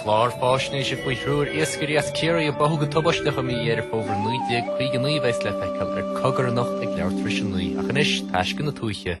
Clár faisnéise faoi thriúr iascairí as Ciarraí a báthadh go tubaisteach i mí Dheireadh Fómhair 1959 a bheas le feiceáil ar Cogar anocht ag leathuair tar éis 9. Ach anois, taisce na tuaithe.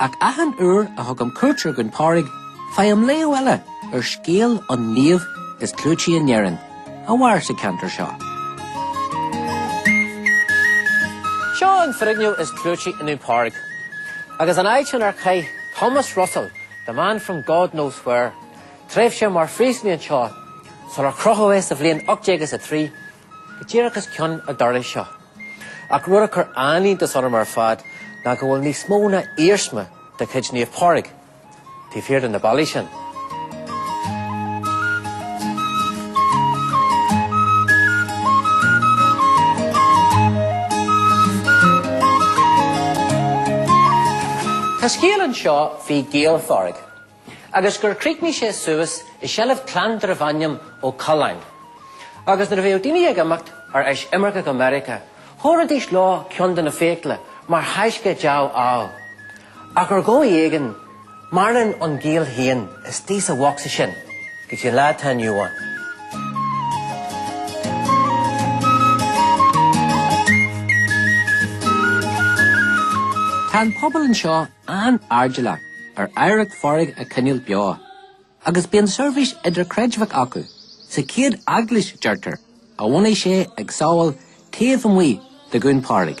Ach achan uair a thugaim cuairt ar Dhún Pádraig, faighim léamh eile ar scéal an naoimh is clúití in Éirinn, a mhair sa ceantar seo. Seo an foirgneamh is clúití i nDún Pádraig, agus an áit inar chaith Thomas Russell, the man from God knows where, tréimhse mar phríosúnaí anseo, sular crochadh é sa bhliain 1803. Díreach os cionn an dorais seo. Ach rud a chuir an-iontas orm ar fad ná go bhfuil níos mó ná iarsma de chuid Naomh Pádraig taobh thiar de na ballaí sin. Tá scéal anseo faoi ghiall Phádraig. agus gur chríochnaigh sé suas i seilbh clann darbh ainm Ó Coileáin. Agus nuair a bhíodh daoine ag imeacht ar ais imirce go Meiriceá, thabharfaidís leo ceann de na fiacla mar thaisce dea-ádh. Ach ar dhóigh éigin, maireann an giall féin istigh sa bhosca sin go dtí an lá atá inniu ann. Tá an pobal anseo an-airdeallach ar oidhreacht Phádraig a choinneáil beo agus bíonn seirbhís idirchreidmheach acu sa chéad eaglais, deirtear, a bhunaigh sé ag Sabhall taobh amuigh de Dhún Pádraig.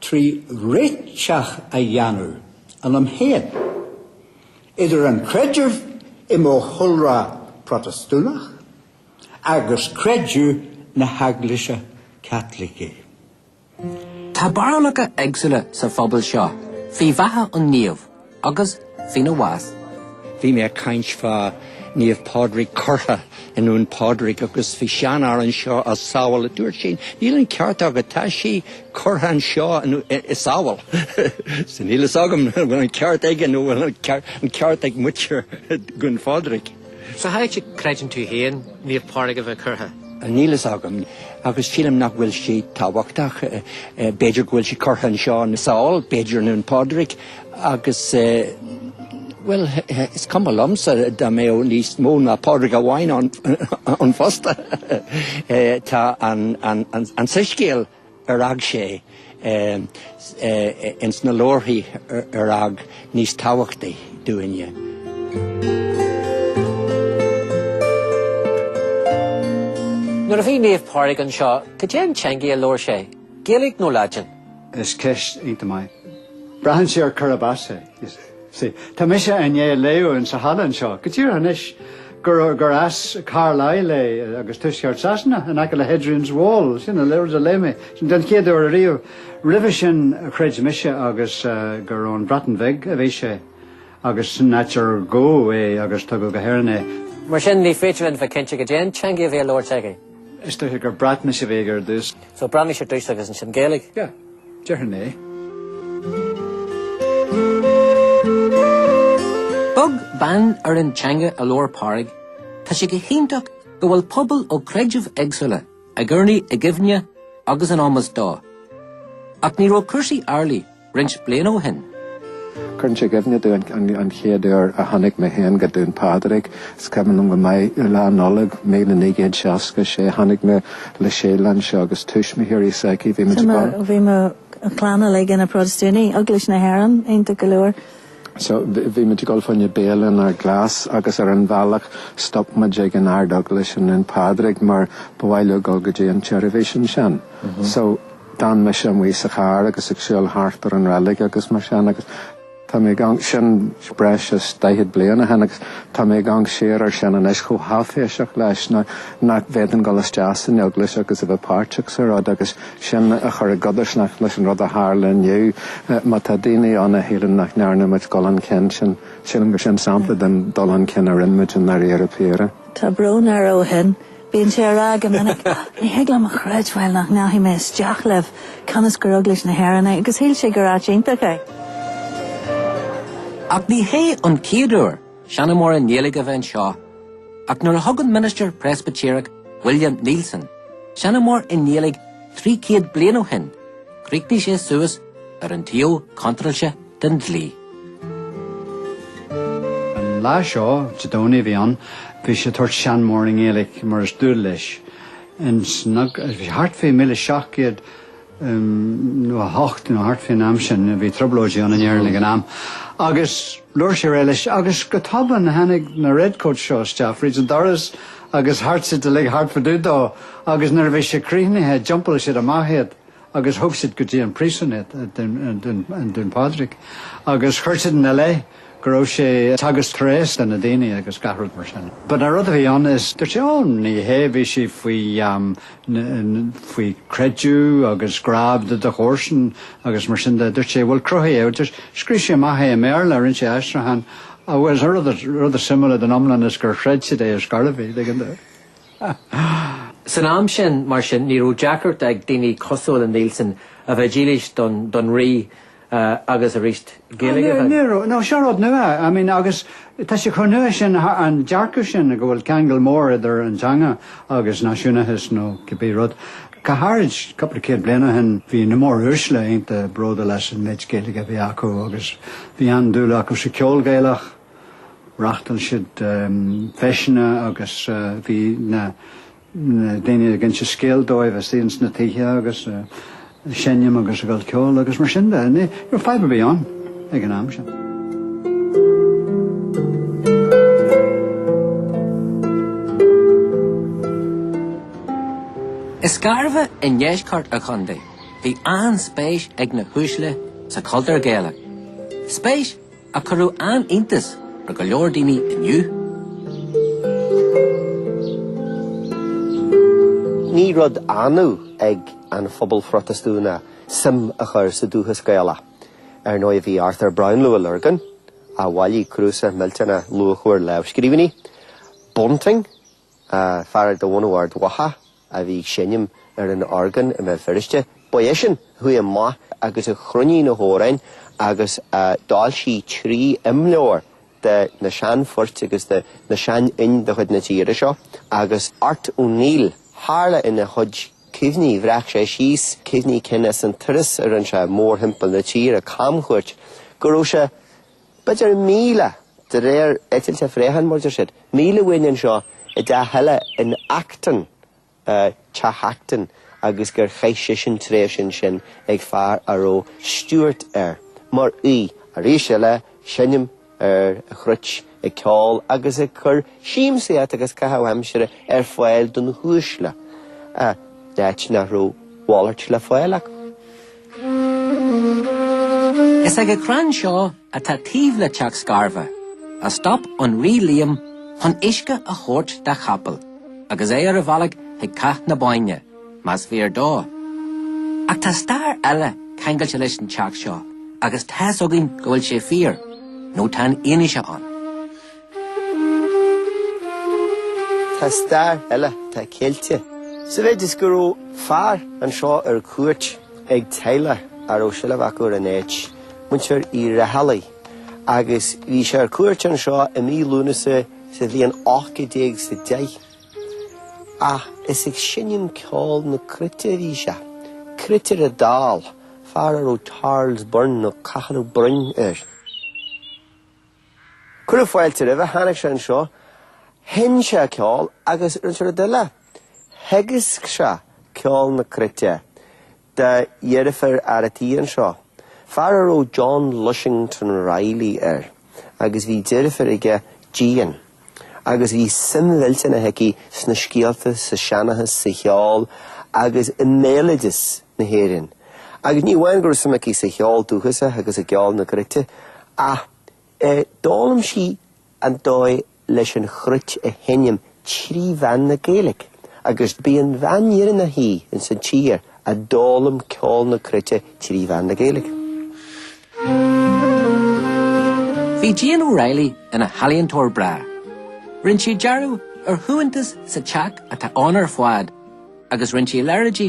trí réiteach a dhéanamh, ionam féin, idir an creideamh i mo chúlra Protastúnach agus creideamh na hEaglaise Caitlicí. Tá barúlacha éagsúla sa phobal seo faoi bheatha an naoimh. Agus faoina bhás. Bhí mé ag caint fá Naomh Pádraig curtha i nDún Pádraig agus bhí seanfhear anseo as Sabhall a dúirt sé níl an ceart agat, tá sí curtha anseo i Sabhall. So níl fhios agam an bhfuil an ceart aige nó an bhfuil an ceart ag muintir Dhún Phádraig. So cá háit a gcreideann tú féin, Naomh Pádraig a bheith curtha. Níl fhios agam agus sílim nach bhfuil sí tábhachtach. B'fhéidir go bhfuil sí curtha anseo i Sabhall, b'fhéidir i nDún Pádraig agus, bhuel, is cuma liomsa dá mbeadh níos mó ná Pádraig amháin ann fosta. Tá an soiscéal. ar fhág sé ins na leabharthaí ar fhág níos tábhachtaí dúinne. Nuair a bhí Naomh Pádraig anseo, goidé an teangaidh a labhair sé, Gaeilic nó Laidin? Is ceist iontach maith. Braitheann sé ar cárb as é. Sea, tá mise i ndiaidh léamh insan halla anseo go díreach anois gur gur as Carlisle é agus tuaisceart Sasana in aice le Hadrian's Wall, sin an leabhar a léigh mé sin den chéad uair ariamh. Roimhe sin chreid mise agus gur ón Bhreatain Bheag a bhí sé agus sin an áit ar gabhadh é agus tugadh go hÉirinn é. Mar sin ní féidir linn a bheith cinnte goidé an teanga a bhí á labhairt aige. Is dóiche gur Breatnais a bhí aige ar dtús. So Breatnais ar dtús agus ansin Gaeilge. Yeah. Déarfainn é. Beag beann ar an teanga a labhair Pádraig, tá sé go hiontach go bhfuil pobail ó chreidimh éagsúla ag urnaí i gcuimhne agus in ómos dó. Ach ní raibh cúrsaí amhlaidh roinnt bliana ó shin. Cuireann sé i gcuimhne domh an chéad uair a tháinig mé féin go Dún Pádraig, is cuimhin liom go maith Lá Nollag 1966 tháinig mé le Síle anseo agus tuismitheoirí s'aici. Bhí muid ag. Bhí mo chlann uilig ina bProtastúnaigh, Eaglais na hÉireann, iontach go leor. So, bhí muid ag gabháil fá choinne béile in Ard Ghlais agus ar an bhealach stop muid ag an Ard-Eaglais i nDún Pádraig mar ba mhaith leo dul go dtí an tseirbhís ansin. So, d'fhan mise amuigh sa charr agus ag siúl thart ar an reilig agus mar sin agus. Tá mé ag amharc, sin breis is daichead bliain ó shin agus tá mé ag amharc siar air sin anois chomh háiféiseach leis nach bhféadfainn dul isteach san Eaglais agus a bheith páirteach sa rud agus sin a chur i gcodarsnacht leis an rud a tharla inniu. Má tá daoine ann a shíleann nach ndearna muid dul chun cinn sin, sílim gur sin sampla den dul chun cinn a rinne muid i ndáiríre píre. Tá brón air ó shin. Bíonn sé á rá go minic, Ní thig liom a chreidbheáil nach ndeachaigh mé isteach libh, cionn is gur Eaglais na hÉireann é, agus shíl sé gur áit iontach é. Ach ní hé an chéad uair seanmóir i nGaeilge a bheith anseo, ach nuair a thug an ministir Preispitéireach William Neilson seanmóir i nGaeilge trí chéad bliain ó shin, chríochnaigh sé suas ar an taobh contráilte den dlí. An lá seo, Dé Domhnaigh a bhí ann, bhí sé ag tabhairt seanmóir i nGaeilic mar is dual leis. Bhí thart faoi míle seacht gcéad nócha a hocht nó thart faoin am sin, bhí troblóidí ann in Éirinn ag an am, agus labhair sé ar aghaidh leis agus go tobann tháinig na redcoats seo isteach fríd an doras agus thart siad uilig thart fá dtaobh dó agus nuair a bhí sé críochnaithe d'iompair siad amach é. agus thug siad go dtí an príosún iad, i nDún Pádraig, agus chuir siad ina leith go raibh sé ag teagasc tréas do na daoine agus gach rud mar sin. But an rud a bhí ann is dúirt sé 'Ó, ní hé, bhí sé faoi, faoi creideamh agus grá do do chomharsan agus mar sin de. Dúirt sé 'bhuel cruthaigh é, just scríobh sé amach é i mBéarla, rinne sé aistriúchán agus rud is suimiúla den iomlán is gur chreid siad é is scaoileadh é, tuigeann tú. San am sin, mar sin, ní raibh deacracht ag daoine cosúil le Neilson a bheith dílis don Rí agus ar a dhís Gaeilge. Ní raibh, nó seo rud nua, I mean, agus tá sé chomh nua sin, an dearcadh sin go bhfuil ceangal mór idir an teanga agus náisiúnachas nó cibé rud. Go háirid cúpla céad bliain ó shin bhí na móruaisle iontach bródúil as an mhéid Gaeilge a bhí acu agus bhí an-dúil acu sa cheol Gaelach, Reachtail siad feiseanna agus bhí na daoine ag inse scéal dóibh istigh sna tithe agus seinnim agus ag gabháil cheoil agus mar sin de níor fadhb ar bith ann ag an am sin. I Scarbhach i ndeisceart an chontae bhí an-spéis ag na huaisle sa chultúr Gaelach. Spéis a chuirfeadh an-iontas ar go leor daoine inniu. Ní rud annamh ag an phobal Phrotastúnach suim a chur sa dúchas Gaelach. Ar ndóigh bhí Arthur Brownlow ón Lorgain, a bhailigh cnuasach millteanach luachmhar lámhscríbhinní, Bunting, Fear de bhunadh Ard Mhacha a bhí ag seinm ar an orgán i mBéal Feirste, ba eisean a chuaigh amach agus a chruinnigh na hamhráin agus a d'fhoilsigh trí imleabhar de na seanphoirt agus de na seanfhoinn de chuid na tíre seo agus Art O'Neill, tharla ina chuid cuimhní, bhreac sé síos cuimhní cinn ar an turas a rinne sé mórthimpeall na tíre, camchuairt, go raibh sé. B'fhéidir míle, de réir eitilt an phréacháin, mar deir siad. Míle uainn anseo i dteach eile in Acton, Teach Acton agus gur chaith seisean tréimhse ansin ag fear a raibh Stewart air, mar aoi, arís eile, seinm ar an chruit, ag ceol agus ag cur siamsaíocht agus caitheamh aimsire ar fáil do na huaisle, áit nach raibh a mhalairt le fáil acu. Is ag an chrann seo, atá taobh le teach Scarva, a stop an Rí Liam chun uisce a thabhairt dá chapall agus é ar a bhealach chuig Cath na Bóinne, más fíor dó. Ach tá stair eile ceangailte leis an teach seo agus tá's againn go bhfuil sé fíor, nó tá an fhianaise ann. Tá stair eile atá ceilte sa mhéid is go raibh fear anseo ar cuairt ag teaghlach a raibh seilbh acu ar an áit, muintir Uí Raghallaigh, agus bhí sé ar cuairt anseo i mí Lúnasa sa bhliain ocht gcéad déag is a deich. Ach is ag seinm ceol na cruite a bhí sé, cruitire dall, fear a raibh Charles Byrne nó Cathal Ó Broin air. Cuireadh fáilte roimhe, tháinig sé anseo, sheinn sé ceol agus rinne sé rud eile, theagasc sé ceol na cruite do dheirfiúr fhear a' tí anseo, fear a raibh John Lushington Reilly air agus bhí deirfiúr aige, Jean, agus bhí suim mhillteanach aici sna scéalta, sa seanchas, sa cheol agus i mbéaloideas na hÉireann. Agus ní amháin go raibh suim aici sa cheol dúchais agus i gceol na gcruite ach d'fhoghlaim sí an dóigh leis an chruit a sheinm trí mheán na Gaeilge agus b'í an bhean dheireanach í ins an tír a d'fhoghlaim ceol na cruite trí mheán na Gaeilge. Bhí Jean O'Reilly ina healaíontóir breá. Rinne sí dearadh ar shuaitheantas sa teach atá ann ar fad agus rinne sí leithéidí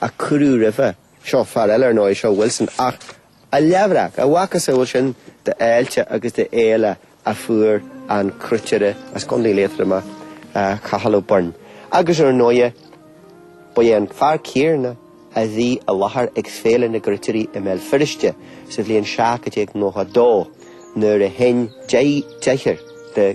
a cuireadh roimhe seo, fear eile ar ndóigh, seo Wilson, ach a leathbhreac, a mhacasamhail sin d'fháilte agus d'fhéile a fuair an cruitire as Co. Liatroma, Cathal Ó Boirn. Agus ar ndóighe, ba é an fear céarna a bhí i láthair ag Féile na gCruitirí i mBéal Feirste sa bhliain 1792 nuair a sheinn deichniúr de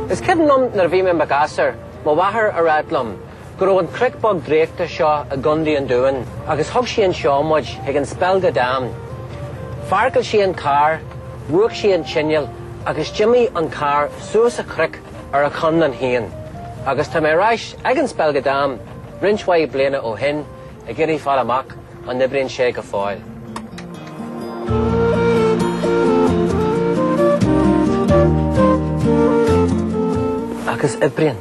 Is cuimhin liom nuair a bhí mé i mo ghasúr, mo mháthair ag ráit liom, go raibh an cnoc beag draíochta seo i gContae an Dúin agus thug sí anseo muid chuig an Spelga Dam. Pháirceáil sí an carr, mhúch sí an t-inneall agus d'imigh an carr suas an cnoc ar a chonlán féin. Agus tá mé ar ais ag an Spelga Dam roinnt mhaith bliana ó shin, Ag iarraidh fáil amach an n-oibríonn sé go fóill. Agus oibríonn.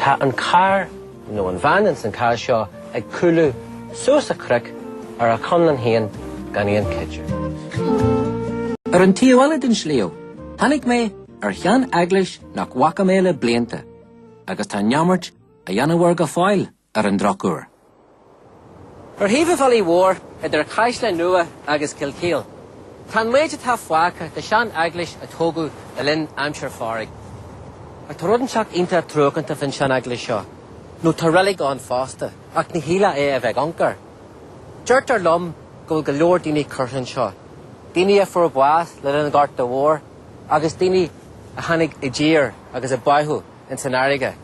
Tá an carr, nó an veain ins an cás seo, ag cúlú suas an cnoc ar a chonlán féin gan aon chuidiú. Ar an taobh eile den sliabh, tháinig mé ar sheaneaglais nach bhfaca mé le blianta, agus tá neamart á dhéanamh air go fóill. ar an drochuair. Ar thaobh an bhealaigh mhóir, idir Caisleán Nua agus Kilkeel, tá an méid atá fágtha de shean eaglais a tógadh le linn aimsir Phádraig. Ach tá rud inteacht iontach truacánta faoin sean eaglais seo, nó tá reilig ann fosta, ach ní shílfeá é a bheith ag amharc air. Deirtear liom go bhfuil go leor daoine curtha anseo, daoine a fuair bás le linn an Ghorta Mhóir agus daoine a tháinig i dtír agus a báitheadh ins an fhairrge.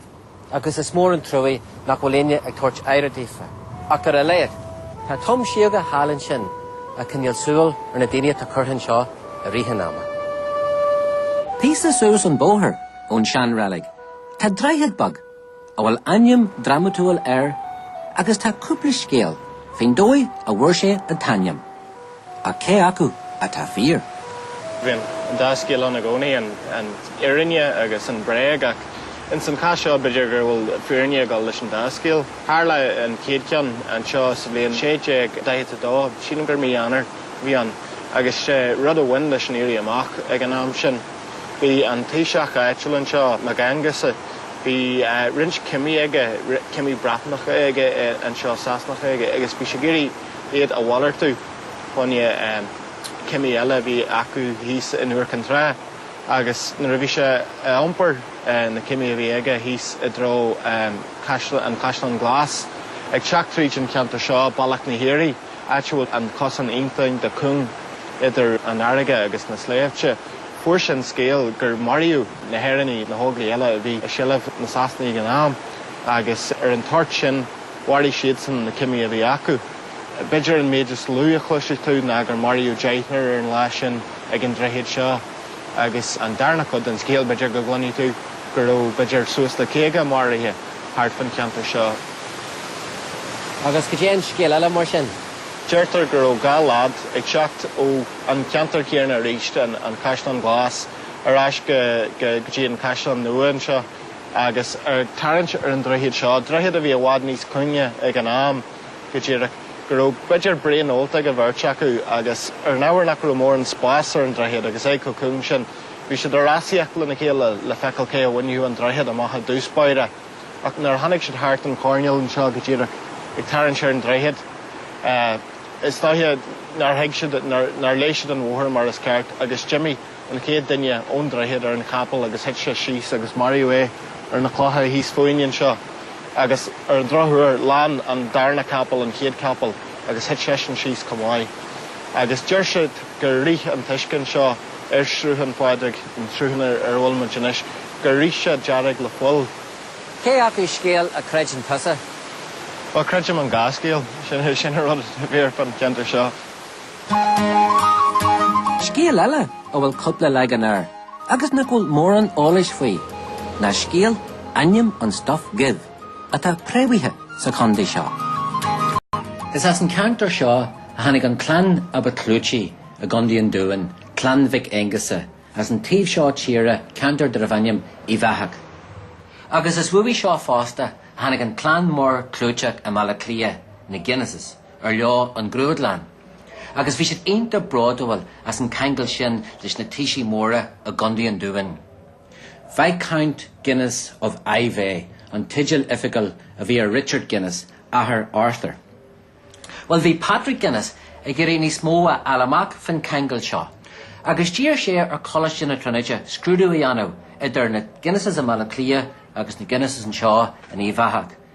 agus is mór an truaí nach bhfuil éinne ag tabhairt aire daofa. Ach ar a laghad, tá tom síóga thall ansin ag coinneáil súil ar na daoine atá curtha anseo i rith an ama. Píosa suas an bóthar ón sean reilig, tá droichead beag a bhfuil ainm drámatúil air agus tá cúpla scéal faoin dóigh a bhfuair sé an t-ainm. Ach cé acu atá fíor? Bhíonn an dá scéal ann i gcónaí, an fhírinne agus an bhréag, ach ins an chás seo b'fhéidir go bhfuil fírinne ag dul leis an dá scéal. Tharla an chéad cheann anseo sa bhliain 1642, sílim gur mí Eanáir a bhí ann, agus sé rud a bhain leis an Éirí Amach ag an am sin, bhí an taoiseach áitiúil anseo, Mag Aonghusa, bhí roinnt cimí aige, cimí Breatanacha aige anseo, Sasanacha aige, agus bhí sé ag iarraidh, iad a mhalartú choinne cimí eile a bhí acu thíos in Iúr Cinn Trá agus nuair a bhí sé ag iompar na cimí a bhí aige thíos i dtreo an Caisleán Glas, ag teacht tríd an cheantar seo, Bealach na hAoirí, áit a bhfuil an cosán iontach de cúng idir an fharraige agus na sléibhte, fuair sé an scéal gur maraíodh na hÉireannaigh, na hÓglaigh eile a bhí i seilbh na Sasanaigh ag an am, agus ar an toirt sin. Mharaigh siadsan na cimí a bhí acu. B'fhéidir an méid is lú a chloisfidh tú ná gur maraíodh deichniúr ar an lá sin ag an droichead seo agus an darna cuid den scéal b'fhéidir go gcluinfidh tú go raibh b'fhéidir suas le caoga maraithe thart fan cheantar seo. Agus goidé an scéal eile mar sin? Deirtear go raibh dhá lad ag teacht ó an cheantar céarna aríst, an Caisleán Glas, ar ais go dtí an Caisleán Nua anseo. Agus ar tarraingt ar an droichead seo, droichead a bhí i bhfad níos cúinge ag an am, go díreach, go raibh b'fhéidir braon ólta ag an bheirt acu agus ar an ábhar nach raibh mórán spáis ar an droichead agus é chomh cúng sin, bhí siad ag rásaíocht lena chéile le feiceáil cé a bhainfeadh an droichead amach i dtús báire. Ach nuair a tháinig siad thart an choirnéal anseo, go díreach, ag tarraingt ar an droichead, is dóiche nár thuig siad, nár, nár léigh siad an bhóthar mar is ceart agus d'imigh. an chéad duine ón droichead ar an chapall agus thit sé síos agus maraíodh é ar na clocha thíos fúinn anseo agus ar an drochuair lean an darna capall an chéad chapall agus thit seisean síos chomh maith agus deir siad gur rith an t-uisce anseo ar Shruthán Phádraig, an sruthán ar a bhfuil muid anois, gur rith sé dearg le fuil. Cé acu scéal a chreideann tusa? Bhuel, creidim an dhá scéal, sin an rud a bhí ar fud an cheantair seo. Scéal eile a bhfuil cúpla leagan air agus nach bhfuil mórán eolais faoi ná scéal ainm an Stuif Dhuibh atá préamhaithe sa chondae seo. Is as an ceantar seo a tháinig an clann a ba clúití i gCondae an Dúin, Clann Mhic Aongusa, as an taobh seo tíre, ceantar darbh ainm Uíbh Eathach. Agus is uaidh seo fosta a tháinig an clann mór clúiteach i mBaile Cliath, na Guinnesses. ar leo an grúdlann agus bhí siad iontach bródúil as an ceangal sin leis na taoisigh móra i gCondae an Dúin. Viscount Guinness of Iveagh an teideal oifigiúil a bhí ar Richard Guinness, athair Arthur. Bhuel, bhí Patrick Guinness ag iarraidh níos mó a fháil amach faoin ceangal seo agus d'iarr sé ar Choláiste na Tríonóide scrúdú a dhéanamh idir na Guinnesses i mBaile Átha Cliath agus na Guinnesses anseo in Uíbh Eachach.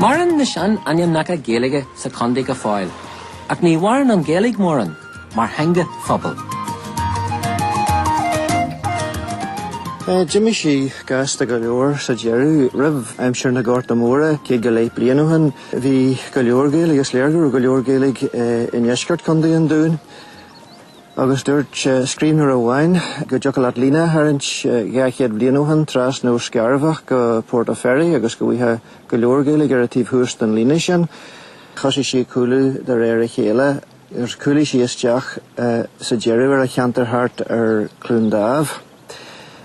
Maireann na sean-ainmneacha Gaeilge sa contae go fóill, ach ní mhaireann an Ghaeilge mórán mar theanga phobail. D'imigh sí gasta go leor sa deireadh. Roimh aimsir na Gorta Móire, céad go leith bliain ó shin, bhí go leor Gaeilge, is léir go raibh go leor Gaeilge i ndeisceart Chontae an Dúin. Agus dúirt scríbhneoir amháin go dtiocfadh leat líne a tharraingt dhá chéad bliain ó shin, trasna ó Scarbhach go Port a' Ferry agus go bhfaigheá go leor Gaeilge ar an taobh thuas den líne sin. Thosaigh sí ag cúlú de réir a chéile agus chúlaigh sí isteach sa deireadh ar an cheantar thart ar Cluain Dámh.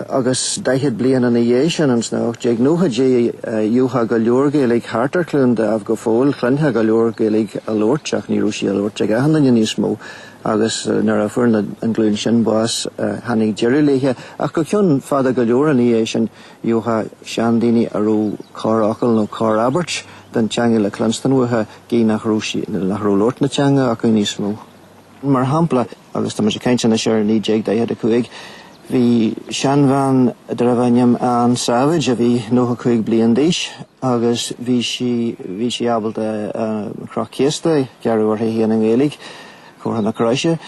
agus daichead bliain ina dhiaidh sin, ins na 1890idí, gheofá go leor Gaeilge thart ar Chluain Dámh go fóill, chluinfeá go leor Gaeilge á labhairt ach ní raibh sí á labhairt ag achan duine níos mó agus nuair a fuair na, an ghlúin sin bás tháinig deireadh léithe ach go ceann fada go leor ina dhiaidh sin gheofá seandaoine a raibh corrfhocal nó corr-abairt den teanga le cluinstean uathu gidh nach raibh sí, nach raibh labhairt na teanga acu níos mó. Mar shampla. agus tá mise caint anois ar 1945, bhí seanbhean darbh ainm Ann Savage a bhí 95 bliain d'aois agus bhí sí bhí sí ábalta an chroch chéasta a ghearradh uirthi féin i nGaeilge Comhartha na Croise.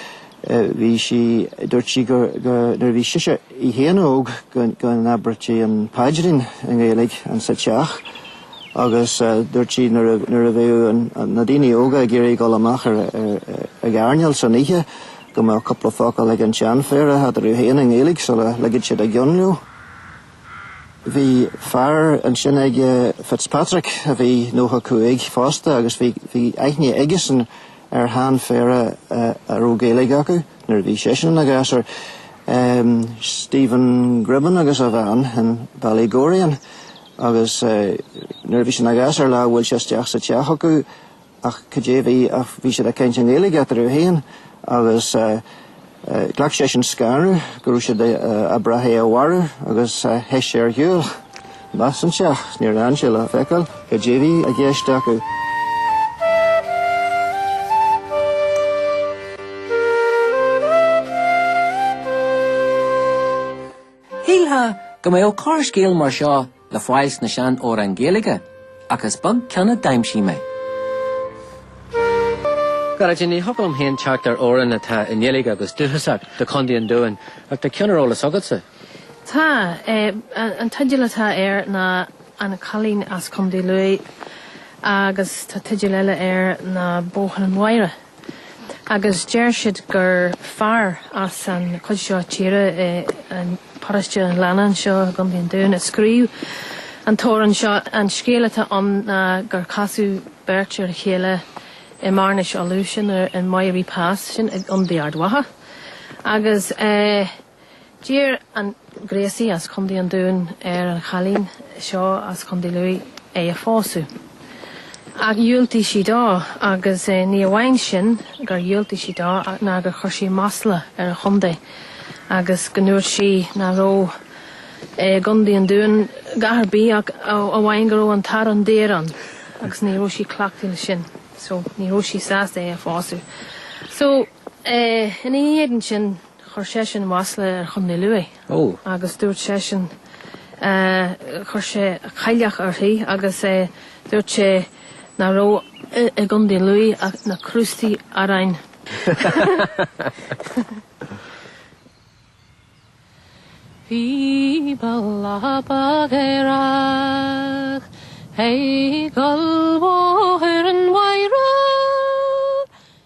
Bhí sí dúirt sí go go nuair a bhí sise í féin óg go go n-abairtí an paidrín i nGaeilge ins an teach. agus dúirt sí nuair a bheadh na daoine óga ag iarraidh dul amach ag airneáil san oíche go mbeadh cúpla focal ag an tseanphéire eatarthu féin i nGaeilge sula ligfeadh siad a gceann leo. Bhí fear ansin ag Fitzpatrick a bhí 95 fosta agus bhí aithne aigesan ar sheanphéire a raibh Gaeilge acu nuair a bhí seisean ina ghasúr, Stephen Gribben agus a bhean in Ballygorian. Agus nuair a bhí sé ina ghasúr lá bhuail sé isteach sa teach acu ach cad é a bhí ach bhí siad ag caint i nGaeilge eatarthu féin agus ghlac seisean scanradh go raibh siad ag brath é a mharú agus theith sé ar shiúl. Amach as an teach. Níor fhan sé le feiceáil cad é a bhí i gceist acu. Shílfeá go mbeadh corrscéal mar seo le fáil sna sean-amhráin Gaeilge, ach is beag ceann a d'aimsigh mé. Go deimhin, ní thiocfadh liom féin teacht ar amhrán atá i nGaeilge agus dúchasach do Chontae an Dúin, ach tá ceann ar eolas agatsa? Tá. An teideal atá air ná An Cailín as Contae Lughaidh agus tá teideal eile air ná Bóthar an Mhaighre. agus deir siad gur fear as an chuid seo tíre é an paráiste an leannán seo i gContae an Dúin a scríobh an t-amhrán seo. An scéal atá ann ná gur casadh beirt ar a chéile i mBearnas Uladh, sin an Moyry Pass, sin i gContae Ard Mhacha, agus eh. D'iarr an Gréasaí as Contae an Dúin ar an chailín seo as Contae Lú é a phósadh. Ach dhiúltaigh sí dó agus ní amháin sin gur dhiúltaigh sí dó ná gur chuir sí masla ar an chontae agus go ndúirt sí ná raibh i gContae an Dúin a dhath ar bith ach amháin go raibh an t-arán daor ann agus ní raibh sí cleachta leis sin so ní raibh sí sásta é a phósadh. So, ina éadan sin. Chuir seisean masla ar Chontae Lú agus dúirt seisean chuir sé cailleach uirthi agus dúirt sé ná raibh i gContae Lú ach na crústaí aráin. Bhí mé lá beag aerach ag gabháil Bhóthar an Mhaighre.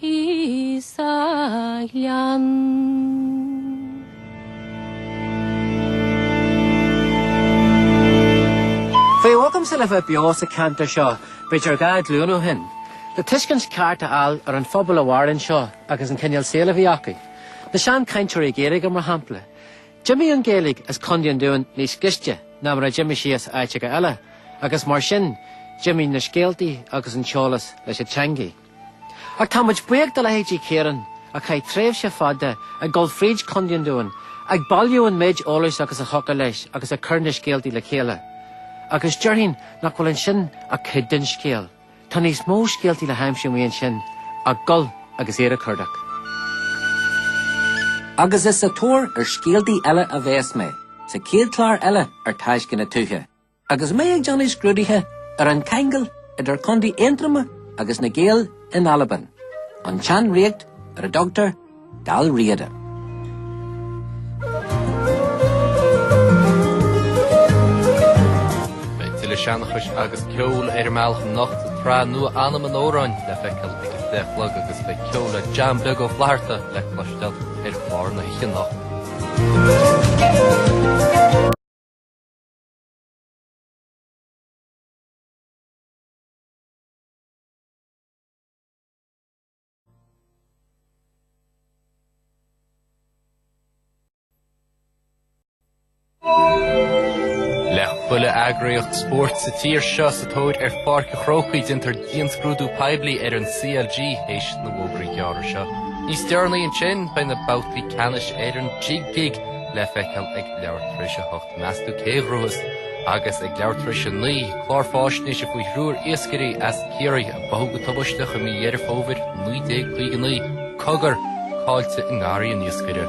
Is iomaí uair a ba mhaith liomsa a bheith beo sa ceantar seo b'fhéidir dhá ghlúin ó shin. Le tuiscint cheart a fháil ar an phobal a mhair anseo agus an cineál saoil a bhí acu. Na seanchainteoirí Gaeilge mar shampla. D'imigh an Ghaeilge as Contae an Dúin níos gaiste ná mar a d'imigh sí as áiteacha eile, agus mar sin d'imigh na scéaltaí agus an t-eolas leis an teangaidh. Ach tá muid buíoch do leithéidí Ciarán, a chaith tréimhse fada ag dul fríd Contae an Dúin ag bailiú an méid eolais agus a thiocfadh leis agus ag cur na scéaltaí le chéile. Agus déarfainn nach bhfuil ansin ach cuid den scéal. Tá níos mó scéaltaí le haimsiú amuigh ansin ach gabháil agus iad a chuardach. Agus is sa tóir ar scéaltaí eile a bheas mé sa chéad chlár eile ar Taisce na Tuaithe. Agus mé ag déanamh scrúdaithe ar an ceangal idir Contae Aontroma agus na Gaeil in Albain, an tseanríocht ar a dtugtar Dál Riada. Beidh tuilleadh seanchais agus ceol ar an mbealach anocht sa tsraith nua Anam an Amhráin le feiceáil ag a deich a chlog agus beidh ceol le John Beag Ó Flatharta le cloisteáil ar chlár na hoíche anocht. Le chuile eagraíocht spóirt sa tír seo sa tóir ar Pháirc a' Chrócaigh déantar dianscrúdú poiblí ar an CLG théis na bhfógraí gearra seo. Níos deireanaí ansin beidh na babhtaí ceannais ar an Jig Gig le feiceáil ag leathuair tar éis a hocht. Meas tú cé a ghnóthós agus ag leathuair tar éis a naoi, clár fáisnéise faoi thriúr iascairí as Ciarraí a báthadh go tubaisteach i mí Dheireadh Fómhair 1959, Cogar, caillte i nGarraí an Iascaire.